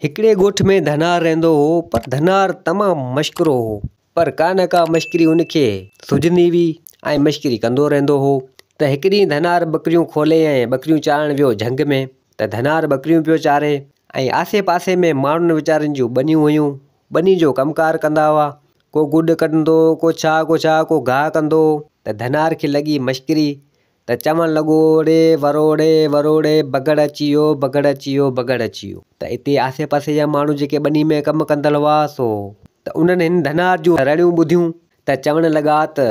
هڪڙي ڳوٺ ۾ ڌنار رهندو هو پر ڌنار تمام مشڪرو هو پر ڪا نه ڪا مشڪري ان کي سجهندي هئي ۽ مشڪري ڪندو رهندو هو ته هڪ ڏينهن ڌنار ٻڪريون کولي ۽ ٻڪريون چارڻ ويو جهنگ ۾ ته ڌنار ٻڪريون پيو چاري ۽ آسي پاسي ۾ ماڻهن ويچارن جون ٻنيون هيون ٻني جو ڪم ڪار ڪندا هئا ڪو گڏ ڪڍندو هو ڪو ڇا ڪو ڇا ڪو گاهه ڪندو هو ته ڌنار کي لڳي مشڪري ته چوڻ لڳو اڙي وروڙي وروڙي بگهڙ اچي ويو بگهڙ اچي ويو بگهڙ اچي ويو ته اتي آسي پاسي جا ماڻهو جيڪي ٻني ۾ ڪم ڪندڙ هئا سو ته انهن هن ڌنار جون رڙيون ٻڌيون ته چوڻ لڳا ته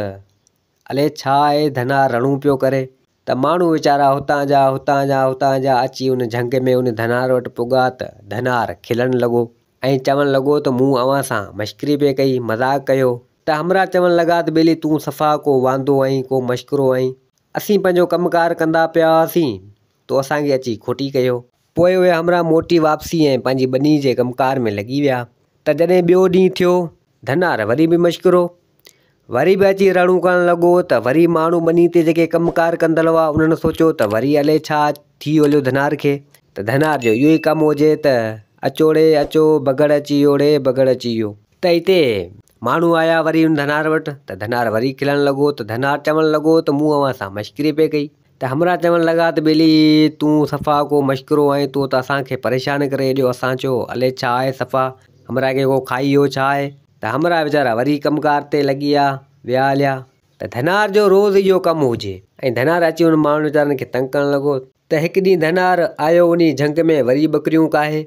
الي ڇا هي ڌنار رڙون پيو ڪري ته ماڻهو ويچارا هتان جا هتان جا هتان جا اچي ان جهنگ ۾ ان ڌنار وٽ پڳا ته ڌنار کلڻ لڳو ۽ چوڻ لڳو ته مون اوهان سان مشڪري پئي ڪئي مذاق ڪيو ته همراهه چوڻ لڳا ته ٻيلي تون صفا ڪو واندو آهين، ڪو مشڪرو آهين. اسين پنهنجو ڪم ڪار ڪندا پيا هئاسين، تو اسان کي اچي کوٽي ڪيو. پوء اهي همراهه موٽي واپسي ۽ پنهنجي ٻنيء جي ڪم ڪار ۾ لڳي ويا ته جڏهن ٻيو ڏينهن ٿيو، ڌنار وري به مشڪرو. وري به اچي رڙون ڪرڻ لڳو ته وري ماڻهو ٻنيء تي جيڪي ڪم ڪار ڪندڙ هئا، انهن سوچيو ته وري الئي ڇا ٿي هليو ڌنار کي، ته ڌنار جو اهو ئي ڪم هجي ته اچوڙي، اچو، بگهڙ اچي يوڙي، بگهڙ اچي يو. ته اتي ماڻهو آيا وري ان ڌنار وٽ ته ڌنار وري کلڻ لڳو ته ڌنار چوڻ لڳو ته مون اوهان سان مشڪري پئي ڪئي ته همراهه چوڻ لڳا ته ٻيلي تون صفا ڪو مشڪرو آهين تو ته اسان کي پريشان ڪري ايڏيو اسان چيو الي ڇا آهي صفا همراهه کي ڪو کائي ويو ڇا آهي ته همراهه ويچارا وري ڪم ڪار تي لڳي آ ويا اليا ته ڌنار جو روز اهو ڪم هجي ۽ ڌنار اچي انهن ماڻهن ويچارن کي تنگ ڪرڻ لڳو ته هڪ ڏينهن ڌنار آيو انهي جهنگ ۾ وري ٻڪريون ڪاهي.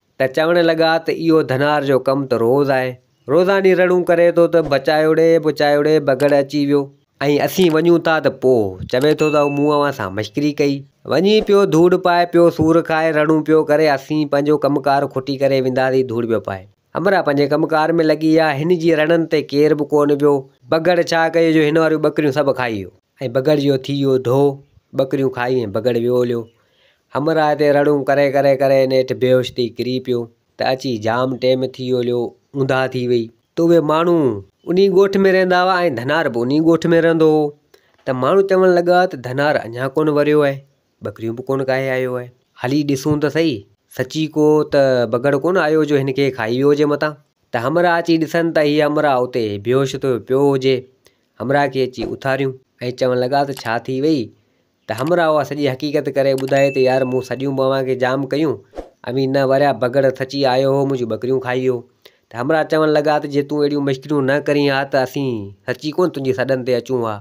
ته چوڻ لڳا ته اهو ڌنار جو ڪم ته روز آهي، روزاني رڙون ڪري ٿو ته بچايوڙي، بچايوڙي، بگهڙ اچي ويو. ۽ اسين وڃون ٿا ته پوء چوي ٿو ته مون اوهان سان مشڪري ڪئي. وڃي پيو ڌوڙ پائي، پيو سور کائي، رڙون پيو ڪري، اسين پنهنجو ڪم ڪار کٽي ڪري وينداسين ڌوڙ پيو پائي. همراهه پنهنجي ڪم ڪار ۾ لڳي ويا، هن جي رڙن تي ڪير به ڪونه ويو. بگهڙ ڇا ڪيو جو هن واريون ٻڪريون سڀ کائي ويو. ۽ بگهڙ جو ٿي ويو ڍو، ٻڪريون کائي ۽ بگهڙ ويو هليو. همراهه تي رڙون ڪري ڪري ڪري نيٺ بيهوش ٿي ڪري پيو ته اچي جام ٽيم ٿي ويو ليو اونداهه ٿي وئي. ته اهي ماڻهو انهي ڳوٺ ۾ رهندا هئا ۽ ڌنار به انهي ڳوٺ ۾ رهندو هو ته ماڻهو چوڻ لڳا ته ڌنار اڃا ڪونه وريو آهي ٻڪريون به ڪونه ڪاهي آيو آهي هلي ڏسون ته سهي سچي ڪو ته بگهڙ ڪونه آيو جو هن کي کائي ويو هجي متان ته همراهه اچي ڏسن ته هي همراهه اتي بيهوش ٿيو پيو هجي همراهه کي اچي اٿاريون ۽ چوڻ لڳا ته ڇا ٿي وئي ته همراهه اها سڄي حقيقت ڪري ٻڌائي ته يار مون سڏيون به اوهان کي جام ڪيون اوهين نه وريا بگهڙ سچي آيو هو منهنجون ٻڪريون کائي ويو ته همراهه چوڻ لڳا ته جي تون اهڙيون مشڪريون نه ڪرين ها ته اسين سچي ڪونه تنهنجي سڏن تي اچون ها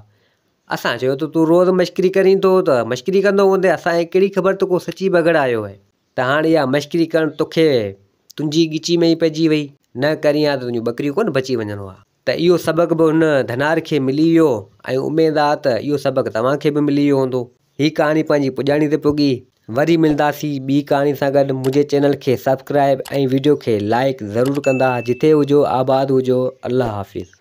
اسان چيو ته تون روز مشڪري ڪرين ٿو ته مشڪري ڪندو هوندين اسان کي ڪهڙي خبر ته ڪو سچي بگهڙ آيو هي ته هاڻي اها مشڪري ڪرڻ توکي تنهنجي ڳچي ۾ ئي پئجي وئي نه ڪرين ها ته تنهنجون ٻڪريون ڪونه بچي وڃن ها. ته اهو سبق به هن ڌنار کي ملي ويو ۽ اميد آ ته اهو سبق توهان کي به ملي ويو هوندو. هي ڪهاڻي پنهنجي پڄاڻي تي پڳي. وري ملنداسين ٻي ڪهاڻي سان گڏ منهنجي چينل کي سبسڪرائب ۽ ويڊيو کي لائيڪ ضرور ڪندا جتي هجو آباد هجو الله حافظ.